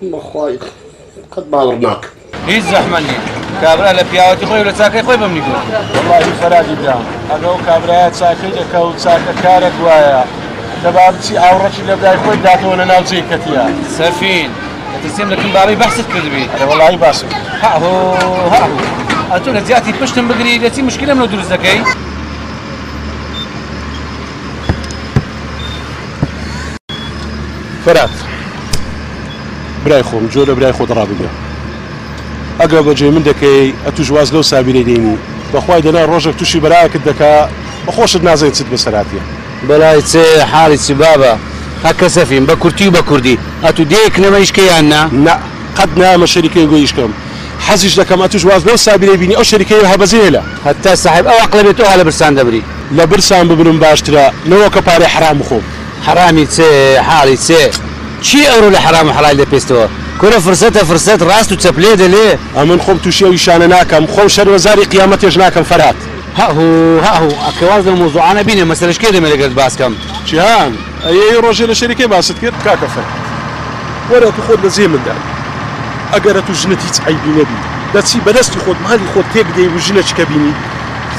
بەخوای قەت باوەڕ ناکەم. هیچ زەحمەت نیە کابرا لە پیاوەتی خۆی و لە چاکەی خۆی بەمنی گوت. وەڵاهی فەرادی برام ئەگە ئەو کابرایە چاکەی دەکا و چاکە کارە گوایە دە با بچی ئاوڕەکی لە برای خۆی بداتەوە لە ناو جێی کەتیە. سەفین دەترسیم لە کن بابی بەحست کردبی. ئەرێ وەڵاهی باسم کرد. هەعهۆ هەعهۆ ئەتوو لە جیاتی پشتم بگری لە چی مشکیلەم لۆ دروست دەکەی. فەرات. برای خۆم جۆ لە برای خۆت ڕابگە ئەگە بە جێی من دەکەی ئەتوش واز لەو سابیرەی دێنی بەخوای دەنا ڕۆژێک تووشی بەرایەکت دەکا بەخۆشت نازەین چت بەسەراتە. برای چ حاڵی چ بابە هە کەسەفین بە کورتی و بە کوردی ئەتو دێیەک نەمە ئیش کە یان نا؟ نا قەت نایەمە شەریکەی گوی ئیش کەم حەزیش دەکەم ئەتوش واز لەو سابیرەی بینی ئەو شەریکەی هە بەزێ لە. هەتا ساحێب ئەو ئەقڵە بێت تۆ هە لە برسان دەبری. لە برسان ببرم باشترە نەوەکە پارەی حەرام بخۆم. حەڕامی چێ حاڵی چێ چی ئەورۆ لە حەڕام و حەڵال دەپێستەوە کورە فرسەتە فرسەت ڕاست و چەپ لێ دەلێ. ئەمن خۆم توشی ئەو ئیشانە ناکەم خۆم شەرمەزاری قیامەتێش ناکەم فەرهاد. هەهو هەهو ئەکرێ واز لەو مەوزوعانە بینێ مەسەلەش کێ دەمێ لەگەرت باس کەم. جیهان ئەیەی ڕۆژێ لە شەری کێ باست کرد کاکە فەرهاد وەرە ئەتوو خۆت لە جێی من دابی ئەگەر ئەتوو ژنت هیچ عەیبی نەبی دەچی بە دەستی خۆت مالی خۆت تێک دەی و ژنەکی کە بینی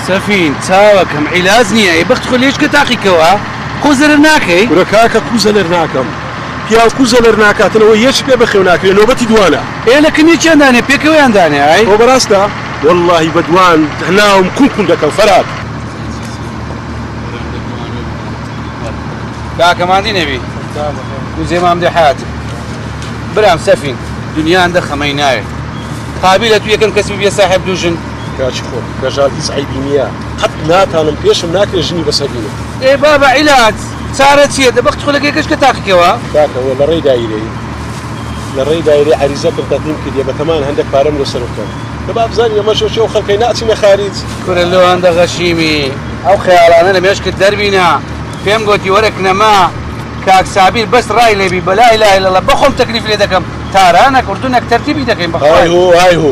سەفین چاوەکەم عیلاج نیە ئەی بەخت خۆ لێچکە تاقی کەوە. کوزە لەر ناکەی؟ کورە کاکە کوزە لەر ناکەم. پیاو کوزە لەر ناکاتن ئەوە یەکی پێ بەخێو ناکرێ نۆبەتی دوانە. ئێ لە کن یەکیان دانێ پێکەوەیان دانێ ئای. ئەوە بەراستە وەللەهی بە دوان ناوم کون کون دەکەم فەرات. کاکە ماندی نەبی وزێ مام دێ حەیاتم برام سەفین دنیا اندە خەمەی ناێ قابیلە تو یەکەم کەس ببیە ساحێب دوو ژن کاچی خۆم کەژاڵ هیچ عەیبی نییە. قەت ناتانم پێشم ناکرێ ژنی بەسەر بینم. ئێ بابە عیلاج چارە چیە دە بەخت خولەکێ گەشکە تاقیکەوە. کاکە وە لەڕێی دایرەی لەڕێی دایرەی عەریزە کم تەقدیم کردیە بەتەمان هەندەک پارەم لۆ سەرف کەم کە بابزانین ئەمە شۆ چیە و خەلکەی ناچینە خاریج. کورە لۆ هەندە غەشیمی ئەو خەیاڵانە لە مێشکت دەربینە پێم گۆتی وەرە کنەما کاک سابیر بەس ڕای لێبی بە لا اله الا اللە بەخۆم تەکلیف لێدەکەم تارانەک ئوردنەک تەرتیبی دەکەین بەخوای. های هو های هو.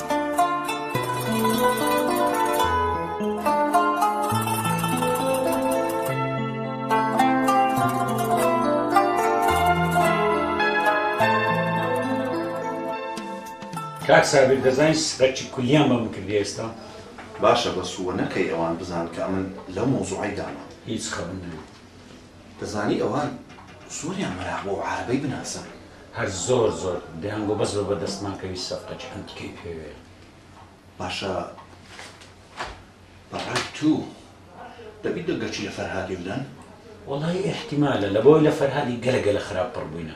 کاک سابیر دەزانی سەرچی کولیان بە من کردی ئێستا باشە بەسووە نەکەی ئەوان بزان کە ئەمن لەو مەوزوعی دانا هیچ خەون نەبێت دەزانی ئەوان زۆریان مەراق بۆ ئەو عارەبەی بناسن. هەر زۆر زۆر دەیان گۆ بەس بە بەردەستمان کەوی سەفقە چ ئەنتیکەی پێوێ. باشە بە ڕای توو دەبی دە گەچی لە فەرهادی بدەن؟ وەڵایی ئیحتیمالە لە بەوەی لە فەرهادی گەلە گەلە خراپ پڕ بووینە.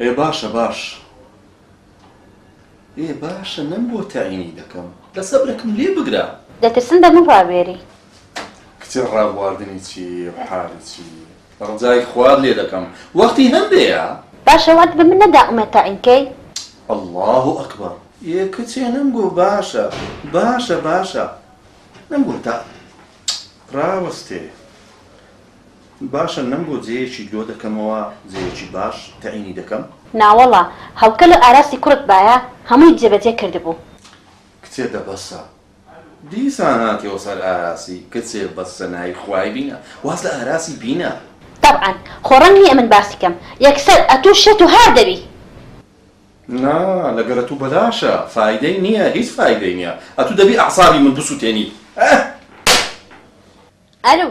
ئێ باشە باش ئێ باشە نەم بۆ تەعینی دەکەم دە سەبرەکم لێ بگرە. دەترسم بە من ڕابوێری. کچێ ڕابواردنی چی و حالی چی ڕجای خوات لێ دەکەم وەختی هەندەیە. باشە وات بە من نەدا ئومێد تەعین کەی. اللە اکبر ئێ کچێ نەم گۆ باشە باشە باشە نەم گۆ تا ڕاوەستێ باشە نەم بۆ جێیەکی لۆ دەکەمەوە جێیەکی باش تەعینی دەکەم. ناوەڵا هەڵکە لۆ ئاراستی کوڕت بایە هەمووی جێ بەجێ کردبوو. کچێ دە بەسە دیسان هاتیەوە سەر ئاراسی کچێ بەسە ناوی خوای بینە واز لە ئاراسی بینە. تەبعەن خۆ ڕەنگ نیە من باسی کەم یەکسەر ئەتوو شێت و هار دەبی. نا لەگەل ئەتوو بەلاشە فایدەی نیە هیچ فایدەی نیە ئەتوو دەبی ئەعسابی من بسوتێنی ئەه. ئەلو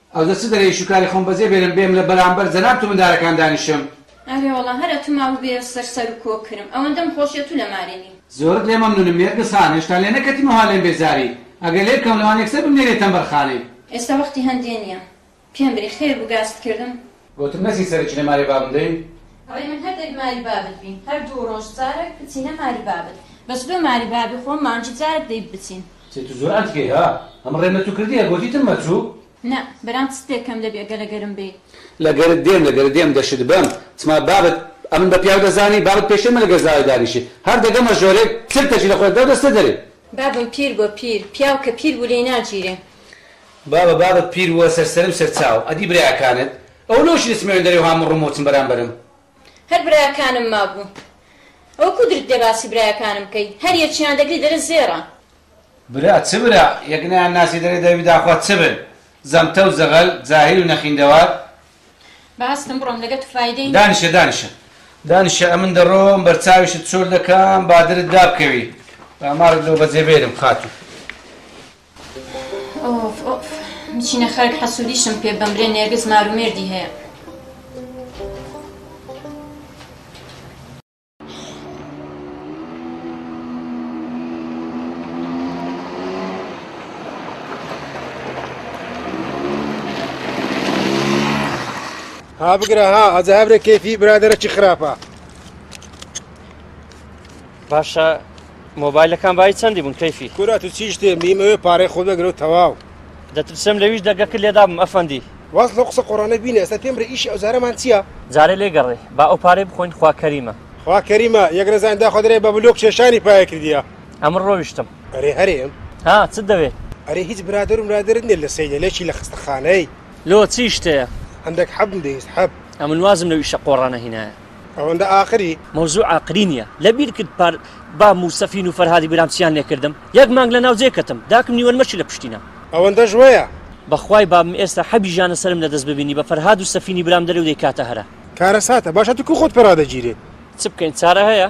ئەوجە چ دەرێ ئیش و کاری خۆم بەجێ بێلم بێم لە بەرامبەر جەناب تو مندارەکان دانیشم. ئەرێ وەڵا هەر ئەتو ماوو بێ سەر سەرو کۆ کرم ئەوەندەم خۆشیە تو لە مارێ نی. زۆرت لێ مەمنونم نێرگس خان هێشتا لێ نەکەتیم و ها لێم بێزاری ئەگەر لێ بکەم لەوان یەکسەر بمنێرێ تەمبەر خانەی. ئێستا وەختی هەندێ نیە پێم بری خێر بو گاستکردم گۆتم نەچی سەرە چینە ماری بابم دەی. ڕێ من هەر دەک ماری بابت بین هەر دوو ڕۆژ جارەک بچینە ماری بابت. بەس بێ ماری بابی خۆم مانگی جارەک دەی بچین. چێ تو زۆر ئەنتیکەی ها ئەمن ڕێم لە تو کردیە گۆتیتم مە چو. نا برام چت لێ کەم دەبی گەر لە گەرم بێی. لە گەرت دێم لە گەرت دێم دەشت بەم چما بابت ئەمن بە پیاو دەزانی بابت پێشێ مە لە گەر زاوای دانیشی هەر دەگەمە ژۆرێک چرکەکی لە خۆێ دەو دەستە دەری. بابم پیر بۆ پیر پیاو کە پیر بو لێی ناگیرێ. بابە بابت پیر بووە سەر سەرم سەر چاو ئەدی براکانت ئەوە لۆ چی دەچمەوێ دەرێ و هاموو ڕمۆ چم بەرامبەرم. هەر براکانم مابوو ئەوە کو درت دێ باسی براکانم کەی هەر یەکیان دەگری دەرێ زێڕە. برا چ برا یەک نەیان ناسی دەرێ دەبی داخوا چ بن زەمتە و زەغەل جاهیل و نەخیندەوار. با هەستم بڕۆم لەگە تو فایدەی نیە. دانیشە دانیشە دانیشە ئەمن دەڕۆم بەرچاویشت چۆل دەکەم با درت دابکەوی با مارت لۆ بەجێ بێرم خاتوو. ئۆف ئۆف بچینە خەرک حەسوودیشم پێ بەمرێ نێرگز مار و مێردی هەیە ها بگرە ها ئەجە هەبرە کێفی برادەرەکی خراپە باشە مۆبایلەکان بای چەندی بوون کەیفی کورا تو چیش دێ میمەوێ پارەی خۆ دەگرەوە تەواو دەترسم لەویش دەگەکە لێدابم ئەفەندی واز لەو قسە قۆڕانە بینە ئێستا پێم برە ئیشی ئەوجارەمان چییە؟ جارێ لێ گەڕێ با ئەو پارەی بخۆین خوا کەریمە. خوا کەریمە یەک نەزان داخوا دەرێ بە بلۆک کێشانی پایە کردیە. ئەمن ڕۆیشتم. ئەرێ هەرێم؟ ها چت دەوێ؟ ئەرێ هیچ برادەر و مرادەرت نیە لە سەیدە لەچی لە خەستەخانەی؟ لۆ چی شتەیە؟ هەندەک حەبم دەویست حەب. ئەمن وازم لەو ئیشە قۆڕانە هینایە. ئەوەندە ئاقری. مەوزوع ئاقری نیە لە بیر کرد پار با موسەفین و فەرهادی برام چیان لێ کردم یەک مانگ لە ناو جێ کەتم داکم نیوەن مەشی لە پشتینا. ئەوەندەش وەیە. بەخوای بابم ئێستا حەبی ژانە سەرم لەدەست ببینی بە فەرهاد و سەفینی برام دەرێ و دەیکاتە هەرا. کارەساتە باشە تو کو خۆت پێ ڕادەگیرێت. چ بکەین چارە هەیە.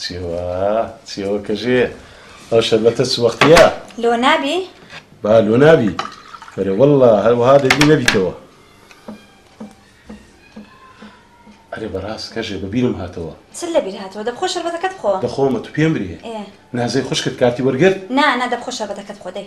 چیوە چیوە کەژێ ئەو شەربەتە چ وەختە لۆ نابی با لۆ نابی بەێ وەله هەروەها دەبی نەبیتەوە ئەرێ بەڕاست کەژێ بەبیرم هاتەوە چ لە بیر هاتەوە دەبخۆ شەربەتەکەت خۆ دەخۆمە تو پێم برێ نازەی خوشکت کارتی وەرگرت نا نا دەبخۆ شەربەتەکەت خۆدەی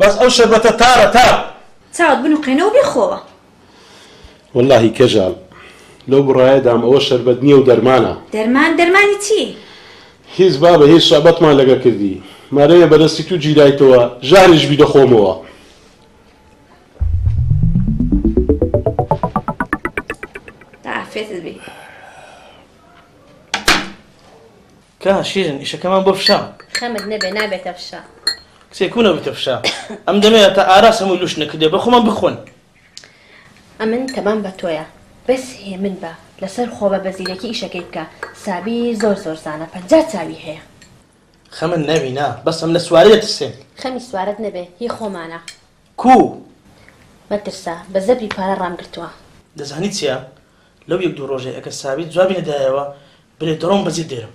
بەس ئەو شەربەتە تارە تار. چاوت بنوقێنە و بیخۆوە. وەلاهی کەژال لەو بڕایەدام ئەوە شەربەت نیە و دەرمانە. دەرمان دەرمانی چی؟ هیچ بابە هیچ سوعبەتمان لەگە کردی مارەێە بەدەستی تو گیرایتەوە ژاریش بی دەخۆمەوە. بەعافێتت بی. کا شیرین ئیشەکەمان بۆ فشە. خەمت نەبێ نابێتە فشە. کچێ کو نەبویتە فشە. ئەم دەمێ ئەتا ئاراس هەموی لوش نەکردیە بە خۆمان بخۆن. ئەمن تەبام بە تۆیە بەس هێمن بە لەسەر خۆبە بە زیرەکی ئیشەکەی بکە سابی زۆر زۆر زانە پەنجا چاوی هەیە. خەمن نەبی نا بەس ئەم لە سوارە دەترسێ. خەمی سوارەت نەبێ هی خۆمانە. کو. مەترسە بە زەبری پارە ڕام گرتوە. دەزانی چیە لەو یەک دوو ڕۆژەی ئەگەر سابیر جوابی نەدایەوە بلێ دەڕۆم بەجیت دێرم.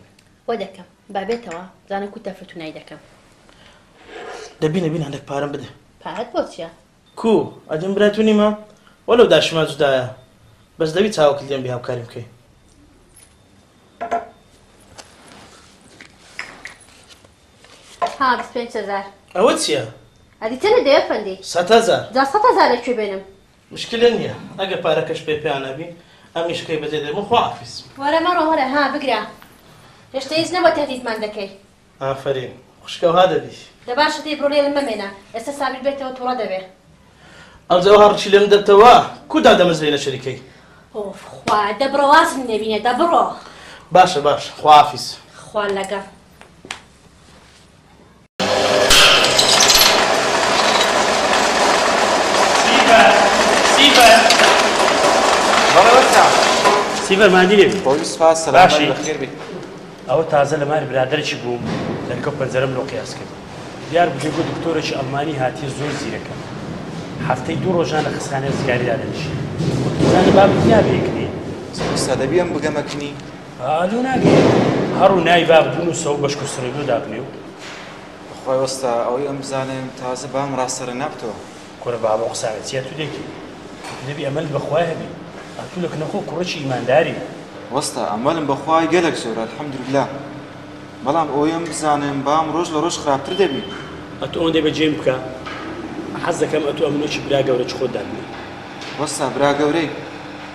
وە دەکەم با بێتەوە زانە کو تەفرتونای دەکەم. دەبی نەبی هەندەک پارەم بدە. پارەت بۆ چیە؟ کو ئەدیم برای تو نیمە وە لەو داشیما جودایە بەس دەبی چاوەکت لێم بی هاوکاریم بکەی. ها بیست پێنج هەزار. ئەوە چیە؟ ئەدی چەنە دەی ئەفەندی؟ سەت هەزار. جا سەت هەزار لە کوێ بێنم؟ مشکلە نیە ئەگەر پارەکەش پێ پیا نەبی ئەمیش کەی بەجێ دەبم خوا حافیز. وەرە مەڕۆ وەرە ها بگرە هێشتە هیچ نەبوە تەهدیدمان دەکەی. ئافەرین خوشکە ئەوها دەبی. دە باشە دەی بڕۆ لێرە مەمێنە ئێستا سابیر بێتەوە توڕە دەبێ. ئەوجا ئەوها ڕچی لێم دەتەوە کو دادەمەزرێی لە شەریکەی. ئۆف خوا دە بڕۆ وازم لێ بینێ دە بڕۆ. باشە باشە خوا حافیز. خوا لەگەڵ. سیڤەر مادی لێبی خۆی سپاس سەلامەت باشی. بەخێر بیت ئەوە تازە لە ماری برادرێکی بووم دەرکەوت پەنجەرەم لۆ قیاس کرد دیار بجێ بۆ دکتۆرێکی ئەڵمانی هاتیە زۆر زیرەکە هەفتەی دوو ڕۆژان لە خستخانەی ڕزگاری دادەنیشی وتم زانی بابت یا بێکنی سەدەبیەم بگەمە کنی ئالو ناگەی هەڕو نای باب بنووسە و بەشکو سڕینۆ دابنێ و بەخوای وەستا ئەوەی ئەم بزانێم تازە بام ڕاستەرە نابتەوە کورە بابە ئەو قسانە چیە تو دەیکەی ئەتو دەبی ئەمەلت بەخوای هەبی ئەتو لە کنە خۆ کوڕێکی ئیمانداری. وەستا ئەمەلم بەخوای گەلەک زۆرە الحمدللە بەڵام ئەوەی ئەم بزانێم بام ڕۆژ لە ڕۆژ خراپتر دەبی. ئەتو ئەوەندەی بە جێم بکە حەز دەکەم ئەتو ئەمنۆکی برا گەورە چ خۆت دابنێ. وەستا برا گەورەی.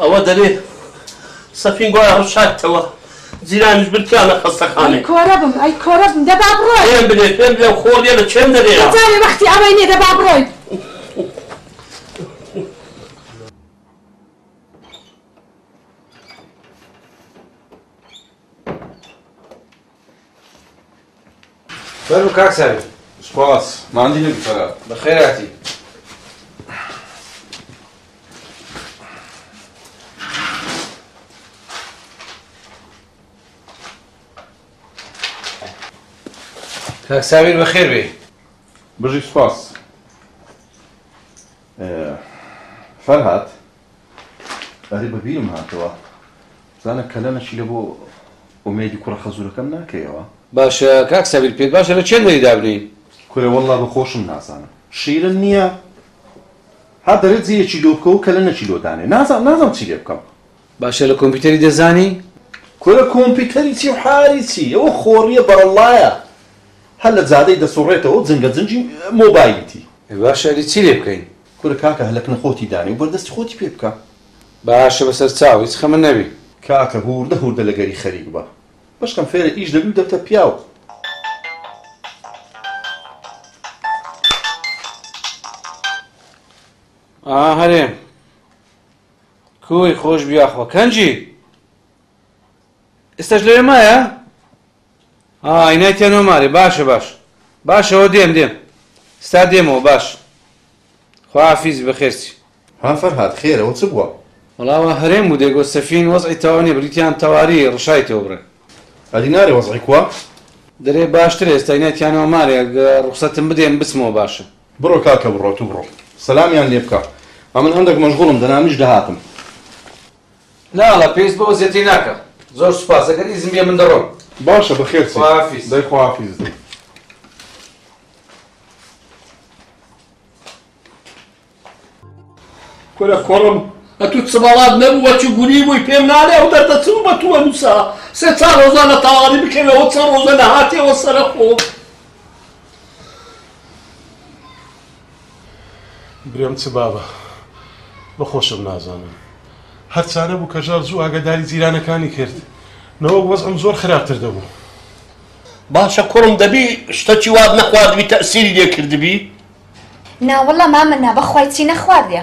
ئەوە دەرێ سەفین گوایە ڕشاکتەوە جیرانیش برکیان لە خەستەخانەی کۆرە بم ئەی کۆرە بم دەبا بڕۆی پێم بلێ پێم بلێ خۆڵیە لە چێم دەرێ جارێ وەختی ئەوەی نیە دەبا بڕۆی فەرموو کاک ساوی سپاس ماندی نەبی فەرا بەخێراتی کاک ساویر بەخێر بێ بژی سپاس فەرهات ئەرێ بە بیرم هاتەوە بزانە کەلەنە چی لە بۆ ئومێدی کوڕە خەزورەکەم ناکەیەوە. باشە کاک سابیر پێت باشە لە چێن دەری دابنێین؟ کورە وەللە بە خۆشم نازانم شیرن نیە ها دەرێت جێیەکی لۆ بکەوە کەلەنەکی لۆ دانێ نازانم نازانم چی لێ بکەم. باشە لە کۆمپیوتەری دەزانی؟ کورە کۆمپیوتەری چی و حاری چی ئەوە خۆڕیە بەرەڵڵایە هەر لە جادەی دەسوڕێتەوە و جنگە جنگی مۆبایلیتی. ئەی باشە ئەدی چی لێ بکەین؟ کورە کاکە هەلەکنە خۆتی دانێ و بەردەستی خۆتی پێ بکە. باشە بەسەر چاو هیچ خەمە نەبی. کاکە هووردە هووردە لە گەری خەریک بە بەشکەم فێرە ئیش دەبی و دەبتە پیاو. ئا هەرێم کوی خۆش بیا خۆ کەنجی ئێستاش لەوێ مایە؟ ئا ئینای تێنۆ مارێ باشە باش باشە هۆ دێم دێم ستا دێمەوە باش خوا عافیزی بەخێر چی. ها فەرهاد خێرە و چ بووە؟ وەڵا وا هەرێم بوو دێگۆ سەفین وەزعی تەواو نیە بریتیان تەواری ڕشایتەوە بڕێ. ئەدی نارێ وەزعی کووە؟ دەرێ باشترە ئێستا ئینای تیانۆ مارێ گە ڕوخسەتم بدێ من بچمەوە باشە. بڕۆ کاکە بڕۆ تو بڕۆ سەلامیان لێ بکە ئەمن هەندەک مەژغوڵم دەنا منیش دەهاتم نا ڵە پێویست بەوە زێتی ناکە. زۆر سوپاس ئەگەر ئیزن بێ من دەڕۆم. باشە بەخێر چی خواحافیز. دەی خواحافیز دەی. کورە کوڕم ئەتوو چبەڵات نەبوو وەچوو گوری بووی پێم نالێ ئەو دەردە چ بە تووە نووسا سێ چا ڕۆزە لە تاوانی بکەوێ ئەو چە ڕۆزە لە هاتێەوە سەرە خۆ برێم چ بابە بە خۆشم نازانم هەر چا نەبوو کە ژار زوو ئاگاداری جیرانەکانی کرد نەوەک وەزعم زۆر خراپتر دەبوو. باشە کوڕم دەبی شتەکی وات نەخواردبی تەئسیری لێ کردبی؟ ناوەڵا مامە نا بەخوای چی نەخواردیە.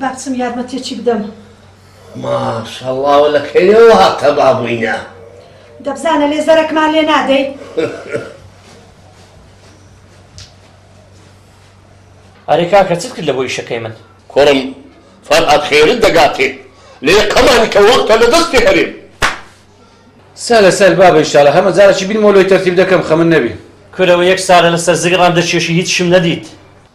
با بچم یارمەتیەکی بدەم. ماشەڵڵا و لە کەیەوە هاتە بابووینە. دەبزانە لێ زەرەکمان لێ نادەی. ئەرێ کاکە چت کرد لە بۆ ئیشەکەی من؟ کوڕم فەرهاد خێرت دەگاتێ لێ قەمانی کە وەختە لە دەستی هەرێم. سەلە سەل بابە ئیشاڵە هەمە جارەکی بینمەوە لۆی تەرتیب دەکەم خەمت نەبی. کورە وە یەک سالە لەسەر زگڕان دەچێشی هیچشم نەدیت.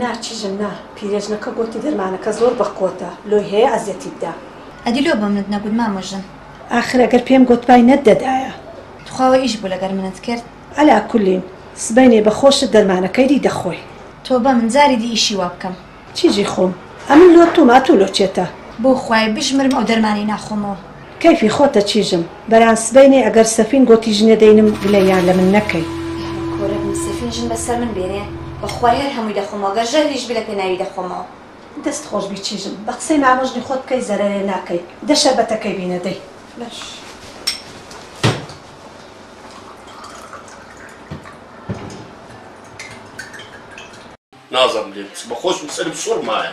نا چژم نا پیرێژنەکە گۆتی دەرمانەکە زۆر بە قۆتە لۆی هەیە ئەزیەتیت دا. ئەدی لۆ بەمنت نەگوت مامە ژن. ئاخر ئەگەر پێم گۆتبای نەت دەدایە. توخوا وە ئیش بوو لەگەر منت کرد. عەلا کولین سبەینێ بە خۆشت دەرمانەکەی ری دەخۆی. تۆبە من جاری دی ئیشی وا بکەم. چیژی خۆم ئەمن لۆ توم ئەتو لۆ چێتە. بۆ خوای بژمرم ئەو دەرمانەی ناخۆمەوە. کەیفی خۆتە چیژم بەران سبەینێ ئەگەر سەفین گۆتی ژنێ دەینم گلە یان لە من نەکەی. یارەب کۆرەبم سەفین ژن بەسەر من بێنێ بەخوای هەر هەمووی دەخۆمەوە گەر ژەهریش بی لە پێناوی دەخۆمەوە. دەست خۆش بی چیژم بە قسەی مامە ژنی خۆت بکەی زەرەرێ ناکەی دە شەربەتەکەی بی نەدەی. باش. نازم لێت بە خۆشم سەرم سوڕمایە.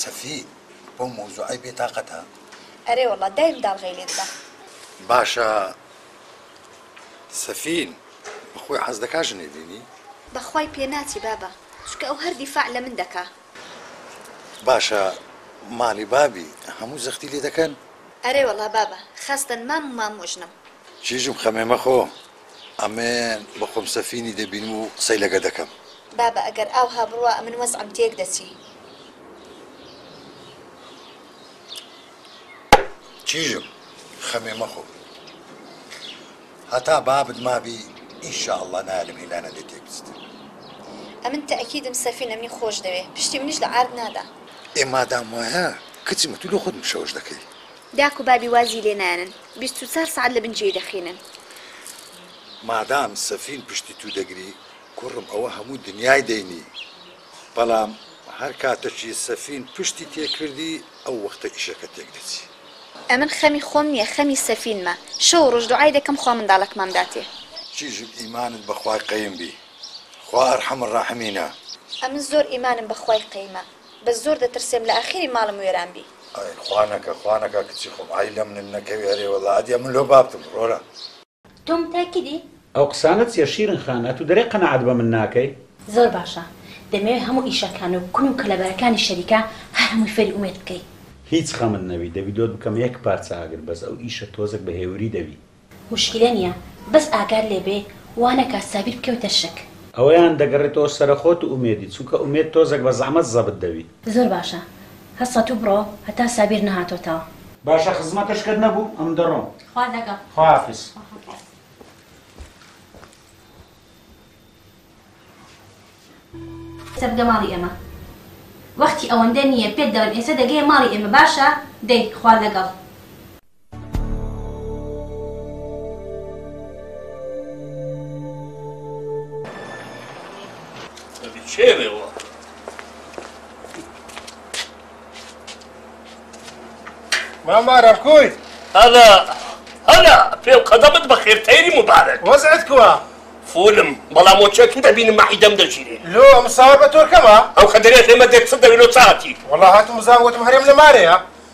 سەفی بەو مەوزوعەی بێ تاقەتە. ئەرێ وەڵا دایم داڵغەی لێ ددا. باشە سەفین بەخۆی حەز دەکا ژنێ بینی؟ بەخوای پێناچی بابە چونکە ئەو هەر دیفاع لەمن دەکا. باشە ماڵی بابی هەموو زەختی لێ دەکەن؟ ئەرێ وەڵا بابە خەستن مام و مامۆژنم. چیژم خەمێ مەخۆ. ئەمن بەخۆم سەفینی دەبینم و قسەی لەگە دەکەم. بابە ئەگەر ئاوها بڕوا ئەمن وەزعم تێک دەچی. کیژم خەمێ مەخۆ هەتا بابت مابی ان شاء اللە نایەلم هیلانە لێ تێک بچتە. ئەمن تەئکیدم سەفین ئەمنی خۆش دەوێ پشتی منیش لە عارد نادا. ئێ مادام وایە کچم تو لۆ خۆت مشەوش دەکەی داک و بابی وازی لێ نانن. بیست و چار سەعات لە بن جێی دەخینن. مادام سەفین پشتی تو دەگری کوڕم ئەوە هەموو دنیای دەینی بەڵام هەر کاتەکی سەفین پشتی تێکردی ئەو وەختە ئیشەکە تێکدەچی. ئەمن خەمی خۆم نیە خەمی سەفینمە شەو و ڕۆژ دوعای دەکەم خوا منداڵەکمام داتێ. چیژم ئیمانت بەخوای قەیم بی خوا ئەرحەم الراحمینە. ئەمن زۆر ئیمانم بەخوای قەیمە. بەس زۆر دەترسێم لە ئاخیری ماڵم وێران بی. ئای خوا نەکا خوا نەکا کچی خۆم ئای لە منت نەکەوێ ئەرێ وەڵا ئەدیە من لۆ بابتم ڕۆرە. تۆم تا کدی؟ ئەو قسانە چیە شیرن خان ئەتو دەرێ قەناعەت بە من ناکەی. زۆر باشە دەمەوێ هەموو ئیشەکان و کون و کەلەبەرەکانی شەریکە هەر هەمووی فێری ئومێد بکەی. هیچ خەمت نەبی دەڤیدۆت بکەمە یەک پارچە ئاگر بەس ئەو ئیشە تۆزەک بە هێوری دەبی. موشکیلە نیە بەس ئاگات لێ بێ وا نەکا سابیر بکەوێتە شک. ئەوەیان دەگەڕێتەوە سەرە خۆت و ئومێدی چونکە ئومێد تۆزەک بە زەعمەت زەبت دەوی. زۆر باشە هەسە تو بڕۆ هەتا سابیر نەهاتۆتەوە. باشە خزمەتەشکەت نەبوو ئەم دەڕۆم. خوا لەگەڵ. خواحافیز. ئێستا بگە ماڵی ئێمە. وەختی ئەوەندە نیە پێت دەڵێم ئێستا دەگەیە ماڵی ئێمە باشە دەی خوا لەگەڵ. مامارە کوی هەلا هەلا پێ و قەدەمت بەخێر تەیری مبارەت وەزعت کووە فولم بەڵام مۆچەکی دەبینم مەعیدەم دەژیرێ لۆ ئەم ساوە بە تۆرکەمە ئەو خەدەرێت ئێمە دێت چ دەوێت لۆ چاتی وەڵا هاتم بزان وتم هەرێم لە مارەیە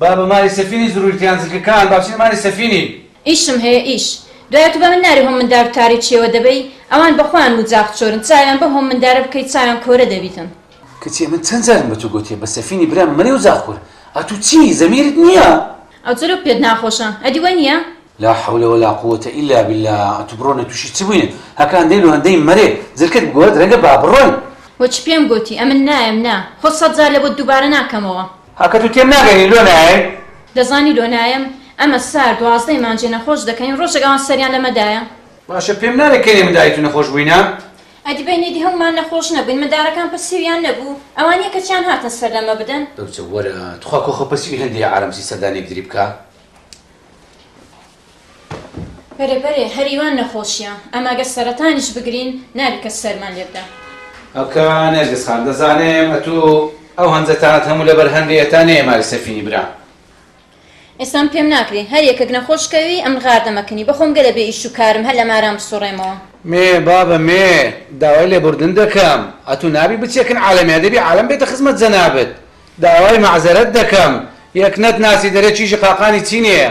با بە ماری سەفینی زرووی تیان زرکەکان با بچنە ماری سەفینی. ئیشم هەیە ئیش دوایە تو بەمن ناری هۆم مندار و تاریچیەوە دەبەی ئەوان بەخۆیان موجاخ چۆرن چاویان بەو هۆم مندارە بکەی چاویان کۆرە دەبیتن. کچێ من چەند جارم بە تو گۆتیە بە سەفینی برام مەرێ و جاخ کۆر ئەتو چی زەمیرت نیە. ئەو جۆرە پێت ناخۆشە ئەدی وای نیە. لا حول ولا قووەتە ئیلا باللە ئەتو بڕۆنە توشی چ بوینە هەکان دەی لۆ هەندەی مەرێ زرکەت بگۆت رەنگە با بڕۆین. وە چ پێم گۆتی ئەمن نایەم نا خۆ سەد جار لە بۆت دووبارە ناکەمەوە. ها کە تو تێم ناگەنی لۆ نایەی. دەزانی لۆ نایەم ئەمە سار دوازدەی مانجێ نەخۆش دەکەین ڕۆژێک ئەوان سەریان لەمە دایە. باشە پێم نالێ کەینێ منداری تو نەخۆش بوینە. ئەدی بەین ئیدی هەمومان نەخۆش نەبوین مندارەکان پەسیویان نەبو ئەوانیە کە چیان هاتن سەر لەمە بدەن. دەوچە وەرە تخوا کۆخە پەسیوی هەندەیە عارەمسی سەردانیەک دری بکا. بەرێ بەرێ هەریوان نەخۆشیە ئەمە گەر سەرەتانیش بگرین نابی کەس سەرمان لێ بدا. ئەکا نێرگز خان دەزانێم ئەتو ئەو هەنجەتانەت هەموو لەبەر هەندێ ئێتا نێیە ماری سەفینی برام. ئێستام پێم ناکری هەر یەکەک نەخۆش کەوی ئەمن غار دەمەکنی بەخۆم گەلە بێ ئیش و کارم هەر لە ماران بسوڕێمەوە. مێ بابە مێ داوای لێبوردن دەکەم ئەتو نابی بچێکن عالەمێ دەبی عالەم بێتە خزمەت جەنابت داوای مەعزەرەت دەکەم یەک نەت ناسی دەرێ چیژی قاقانی چینێیە.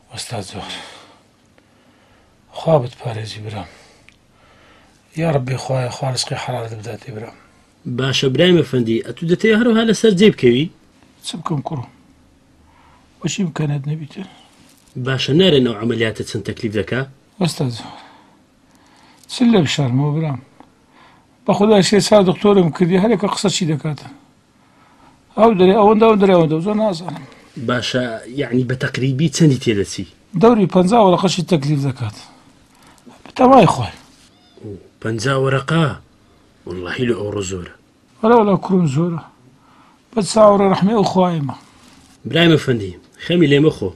وەستا زۆر خوا بتپارێزی برام یاڕبی خوایە خوا رزقی حەڵالت بداتێ برام باشە برای مەفەندی ئەتو دەتەوێت هەروها لەسەر جێ بکەوی چ بکەم کوڕم وەچی بکەنێت نەبیتر باشە نارێنەوە عملیاتە چەند تەکلیف دەکا وەستا زۆر چ لە بشارمەوە برام بەخدا شێ چا دکتۆرم کردی هەرێکە قسە چی دەکاتە ئەو دەێ ئەوەندە ئەو دەێ ئەوەندە زۆر نازانم باشە یعنی بە تەقریبی چەندی تێدەچی دەوری پ وەرەقەشی تەکلیف دەکات بتەوای خۆی پ وەرەقا واللهی لە ئەوڕۆ زۆرە وەرەوەلا کوم زۆرە بە چاوەڕە ڕحمی ئەو خوایمە برای مەفەندی خەمی لێمە خۆ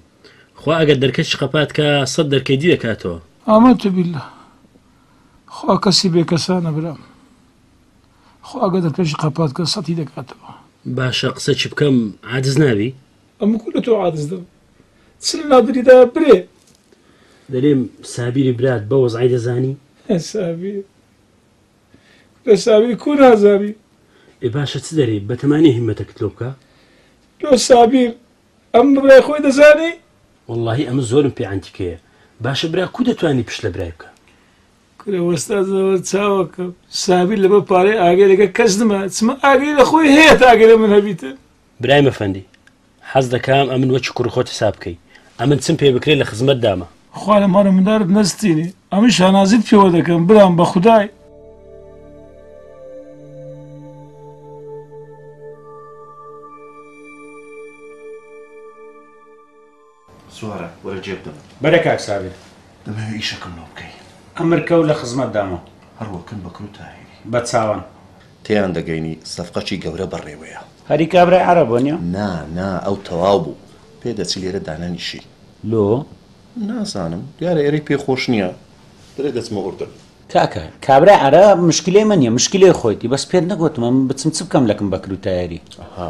خوا ئەگەر دەرکە شقەپات کە سەد دەرکەی دی دەکاتەوە ئامە تبیلە خوا کەسی بێکەسانە برام خوا گەدر پێشی قەپات کە سەتی دەکاتەوە. باشە قسە چ بکەم عادز نابی. ئەم کورە تۆ عادز دەم چل نادری دا برێ. دەرێم سابیری برات بە وەزعی دەزانی؟ سابیر لە سابیر کو نازانی؟ ئێ باشە چ دەرێ بەتەمانی هیمەتەکت لۆ بکە؟ لۆ سابیر ئەم برای خۆی دەزانی؟ وەڵاهی ئەمە زۆرم پێ عەنتیکەیە باشە برا کو دەتوانی پشت لە برای بکە؟ کورە وەستا زەوەر چاوەکەم سابیر لەبەر پارەی ئاگەرێکە کەس نما چمە ئاگەری لە خۆی هەیە تا ئاگەرە من هەبیتە برای مەفەندی حەز دەکەم ئەمن وەکی کوڕ خۆت حساب بکەی ئەمن چم پێ بکرێت لە خزمەت دامە خوا لە ماڵە مندارت نەستینێ ئەمن شانازیت پێوە دەکەم برام بە خودای سوارە وەرە جێ بدەم بەرە کاک سابیر دەمەوێ ئیشەکەم لۆ بکەی ئەمر کەو لە خزمەت دامە هەروەکن بە کرو تاهیری بە چاوان تێیان دەگەینی سەفقەکی گەورە بەڕێوەیە هەری کابرای عەرەب بۆ نیە؟ نا نا ئەو تەواو بوو پێ دەچی لێرە دانەنیشی لۆ؟ نازانم دیارە ئێرەی پێ خۆش نیە دەرێ دەچمە ئوردن. کاکە کابرای عەرەب مشکلەی من نیە مشکلەی خۆیتی بەس پێت نەگۆتمە من بچم چ بکەم لەکم بە کرو تایری. ئەها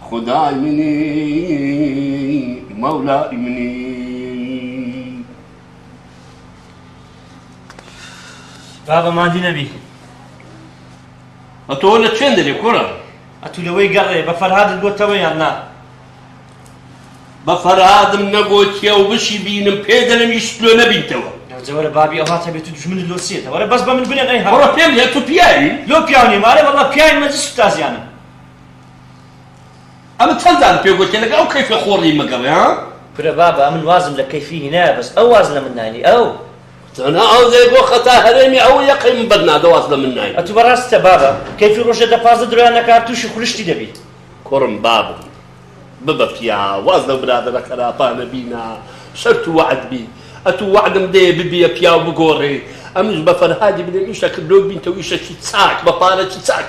خودای منی مەولای منی بابە مادی نەبی ئەتۆ لە چێن دەبێ کوڕە ئەتو لەوەی گەڕێ بە فەرهادت گۆتەوە یان نا بە فەرهادم نەگۆتیە و بشی بینم پێ دەلم ئیش لۆ نەبیتەوە جەوەرە بابی ئەوها تەبێت و دژمنت لۆ سێتە وەرە بەس بە من بنێن ئەی هەڕە پێم لێ تو پیاوی لۆ پیاونی مارە بەڵە پیاوی مەزی سوتازیانم ئەمن چەند جارم پێ گۆتیە لەگەڵ ئەو کەیفە خۆڕی مەگەڕێ ها. کورە بابە ئەمن وازم لە کەیفی هینایە بەس ئەو واز لە من ناینی ئەو. تەنها ئەو دەی بۆ خەتا هەرێمی ئەو یەقەی من بەر نادە واز لە من ناینی. ئەتوو بەڕاستتە بابە کەیفی ڕۆژێ دە پازدە درۆیان نەکا تووشی خولشتی دەبیت. کوڕم بابم ببە پیا واز لەو برادەرە خەراپانە بینا شەرت و وەعد بی ئەتوو وەعدم دەیە ببیە پیاو بگۆڕێی ئەمنیش بە فەرهادی بلێم ئیشەکرد لۆ بینتەو ئیشەکی چاک بە پارەکی چاک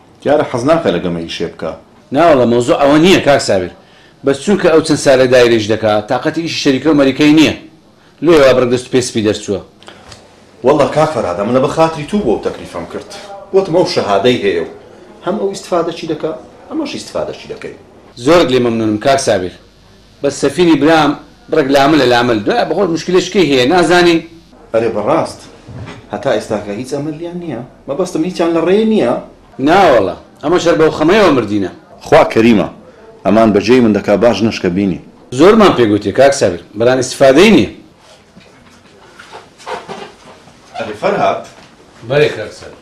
دیارە حەزناکا لە گەمەی شێ بکا. ناوەڵا مەوزوع ئەوە نیە کاک سابیر بەس چونکە ئەو چەند سالە دایرە ئیش دەکا تاقەتی ئیشی شەریکەو مەریکەی نیە لۆیە وا بڕگ دەست پێ سپی دەرچوە. وەللە کاک فەرهاد ئەمن لە بە خاتری تو بوە و تەکلیفم کرد وتم ئەو شەهادەی هەیە و هەم ئەو ئیستفادەچی دەکا هەمەش ئیستفادەچی دەکەین. زۆرت لێ مەمنونم کاک سابیر. بەس سەفینی برام بڕێک لاملە لامل دوایە بەخۆت مشکلەش کەی هەیە نازانین. ئەرێ بەڕاست هەتا ئێستاکە هیچ ئەمەلیان نیە مەبەستم هیچیان لە ڕێ نیە. ناوەڵا ئەمەش هەر بەو خەمەیەوە مردینە. خوا کەریمە ئەمان بە جێی من دەکا باش نەشکە بینی. زۆرمان پێ گوتیە کاک سابیر بەران ئیستفادەی نیە. ئەرێ فەرهاد. بەرێ کاک سابیر.